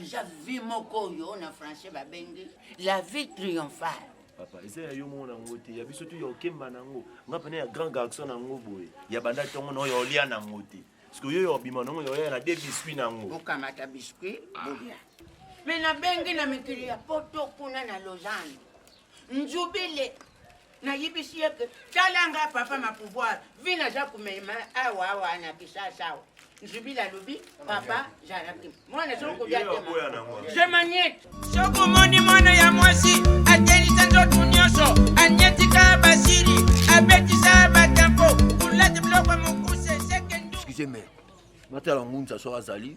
eza vie moko oyo na français babengi la vie triomphale papa eza ya yo moko nango te ya biso tu ya okemba nango nga pene ya grand garçon nango boye ya banda ntongo na oyo olia nango te parceke oyo ya obima nango yoya na de biscuit nango bokamata biscuit bolia me nabengi na mikili ya poto kuna na lausanne nzubile nayebisi ye ke tala nga papa ma pouvoir vi naza komema awa awa na kisasa awa nzubili alobi papa jaraki mwana soki kobia je maniete soki omoni mwana ya mwasi akelisa nzotu nyonso anietika basili abetisa batempo kulati biloko mokuse seke excuse me matala ngunza soki azali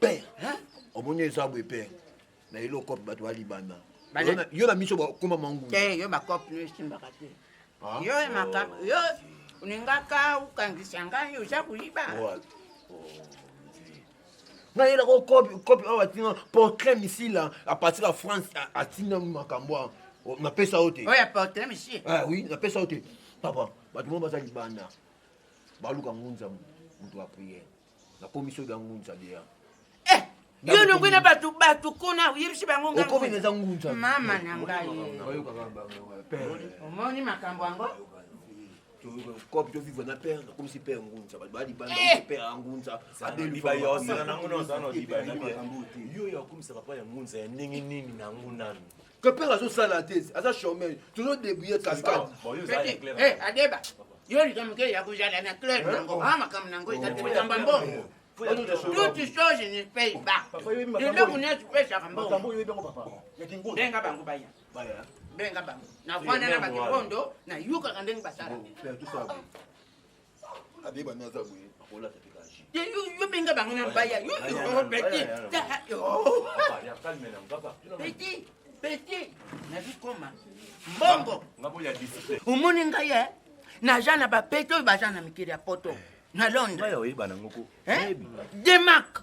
père hein? omoni eza boye père na eloko bato ya libanda yo na miso bakoma mangu te eh, yo bakope no esimbaka te ah, yo emaka oh. yo olingaka okangisa ngai oza koyiba oh, nayela ko kopi oyo atinga portrait misila apartir ya france atinga makambo a napesa yo te oyo ya portrait misie ah oui napesa yo te papa bato mo baza libanda baluka ngunza moto ya priere nakomi soki ya ngunza deya eh, yo olongwe na bato bato kuna oyebisi bango ngaokomi eza ngunza mama na ngai omoni makambo yango kopi tovivre na père nakomisi père ngunza bato balibanda eh! père ya ngunza abelibayoyo ya kokomisa papa ya ngunza ya ndenge nini na yango nanu Que père azo sala te, aza chômeur. Tozo débrouiller cascade. Eh, adeba. Yo likambo moke ya kozala na club nango a makambo nango ezali kotamba mbongo toute chose ne paye pas eloko nyonso epesaka mbongobenga bango baya benga bango navanda na bakibondo nayokaka ndenge basala abeba nde aza boye akolata mpe kaji yo benga bango na baya yo petit petit petit nazwi koma mbongo omoni ngai e naza na bapete oyo baza na mikili ya poto na londres demak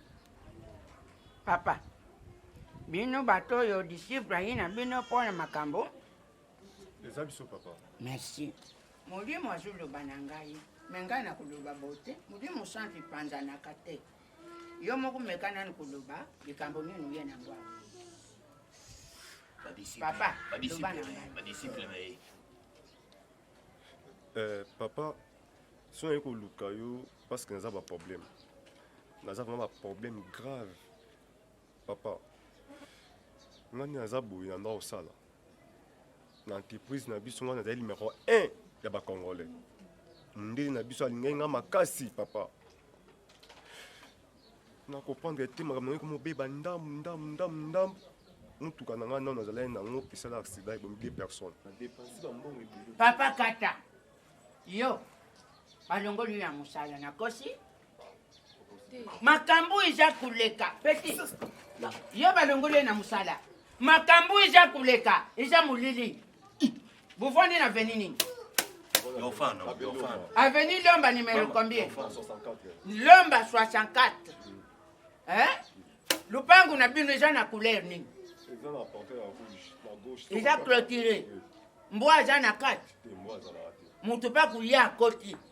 Papa, bino bato oyo disciple ayi na bino mpo na makambo eza biso papa merci molimo azoloba na ngai me ngai na koloba bote molimo santu epanzanaka te yo moko meka nani koloba likambo nini oye na ngwa papa loba na ngai Eh, papa soki naye koluka yo parce que naza baproblème naza vraiment baproblème grave papa ngai nde naza boye na nda kosala na entreprise na biso ngai nazali numero 1 ya bacongolais mondele na biso alingaki ngai makasi papa na comprendre te makambo yango ekomobeba ndambu ndambu ndambu ndambu motuka na ngai nano azalaki nango esala accident ebomi deux personnes papa kata yo balongoli yo ya mosala nakosi makambo eza koleka peti yo balongoli ye na mosala makambo eza koleka eza molili Buvandi na veni nini? Avenue Lomba numéro combien? Lomba 64. Hein? Lupangu na bino eza na couleur nini? Eza clôturé. Mbwa aza na kati. Moto pa kuya akoti.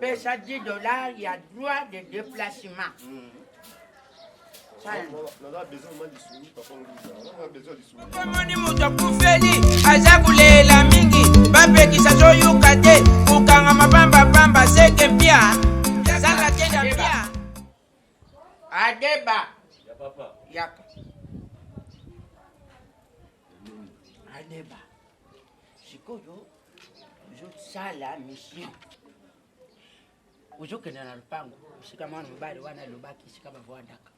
pesa 10 dollars ya droit de déplacement mm. omoni moto akufeli aza kolela mingi bapekisa zoyoka te kokanga mabambabamba seke mpia zala te na mpia adeba yaka adeba sikoyo ozosala mission ozokende na lopango esika mwana mobali wana alobaki esika bavandaka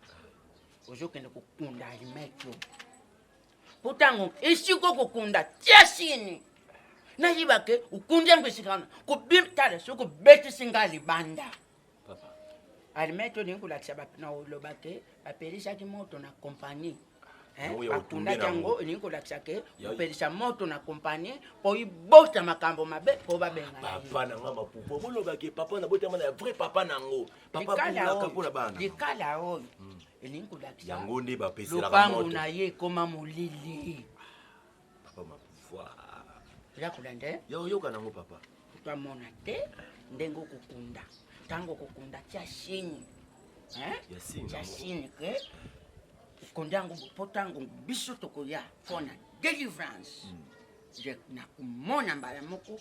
ozokende kokunda alimekio mpo ntango esiko kokunda tia sini nayebake okundi yango esika wana kobim tala soki obetisi ngai libanda almai tolingi kolakisa na oloba ke bapelisaki moto na kompani bakundaki yango elingi kolakisa ke kopelisa moto na kompani mpo ibota makambo mabe mpo babengapapa na nga mapupo bolobaki papa nabotama na ya vrai papa na yango papaaka mpo na bana likala oyo hmm. elingi kolakisa yango nde bapeselaka lopango na ye ekoma molili papa ma pouvoir oza kolanda eh? ya oyoka nango papa twamona te ndenge okokunda ntango okokunda tia shini tia shini ke okonda yango mpo ntango biso tokoya mpo na délivrance hmm. nakomona mbala moko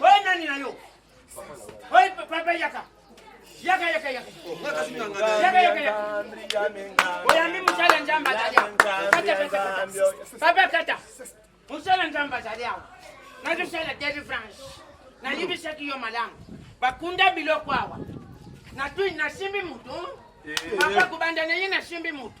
Oye nani na yo? Oye papa yaka. Yaka yaka yaka. Yaka yaka yaka. Oyambi musala nzambe azali awa. Kata kata kata. Papa kata. Musala nzambe azali awa. Nazosala delivrance. Nayebisaki yo malamu. Bakunda biloko awa. Natui nasimbi moto. Papa kobanda na ye nasimbi moto.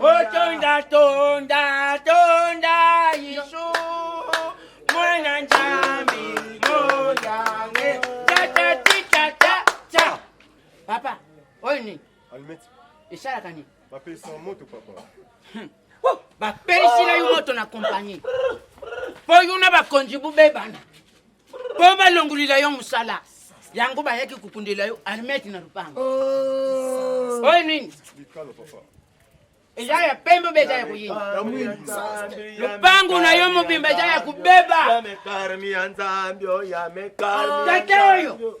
Otonda tonda tonda Yesu mwana Nzambe moyange tatatikata ta papa oyo nini esalaka nini bapelisa moto papa hmm. bapelisi na yo moto na kompani mpo yo na bakonzi bobebana po balongolila yo mosala yango bayaki kokundela yo armete na lopango oh. oyo nini eza ya pembe obe eza ya koyina lopango na yo mobimba eza ya kobeba tata oyo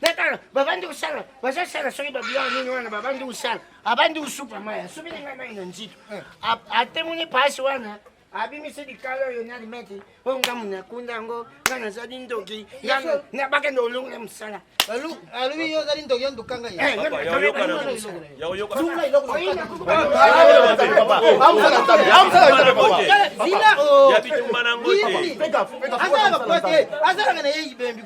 natala babandi kosala bazosala soki babiloko nini wana babandi kosala abandi kosupa mai asupi na ngai mai na nzito eh. atemoni pasi wana abimisi likalo oyo na limete oyo nga mona akunda yango nga nazali ndoki nabakende olongo na mosala alobi yo ozali ndoki onduka ngai azalaka na ye ibembi